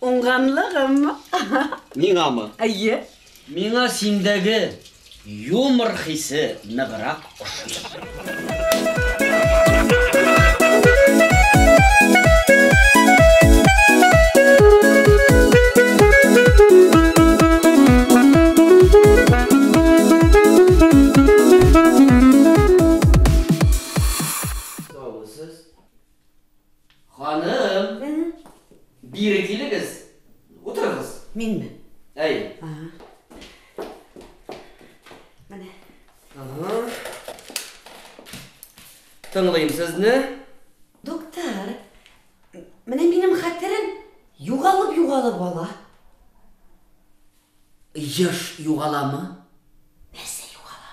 Уңганлыгым. Миңамы? Әйе. Миңа синдәге юмор хисе ныграк ошый. Ханым, бире килегез, утырыгыз. Минме? Әй. Ага. Менә. Ага. Тыңлыйм сезне. Доктор, менә минем хәтерем югалып-югалып ала. Еш югаламы? Нәрсә югала?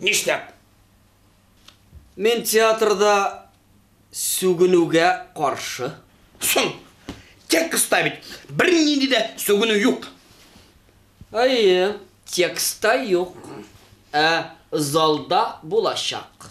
Нишләп? Мин театрда сүгенүгә каршы. Соң, текстта бит бернинди дә сүгенү юк. Әйе, текстта юк, ә залда булачак.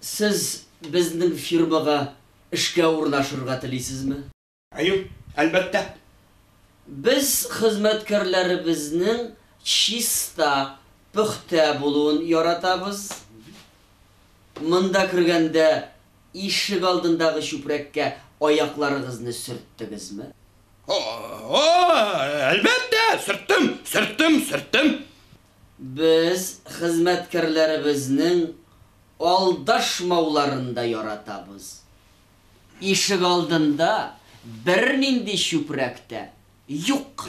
Сез безнең фирмага эшкә урнашырга телисезме? Әйе, әлбәттә. Без хезмәткәрләребезнең чиста, пөхтә булуын яратабыз. Монда кергәндә ишек алдындагы чүпрәккә аякларыгызны сөрттегезме? О-о, әлбәттә, сөрттем, сөрттем, сөрттем. Без хезмәткәрләребезнең алдашмауларын да яратабыз. Ишегалдында бернинди чүпрәк тә юк.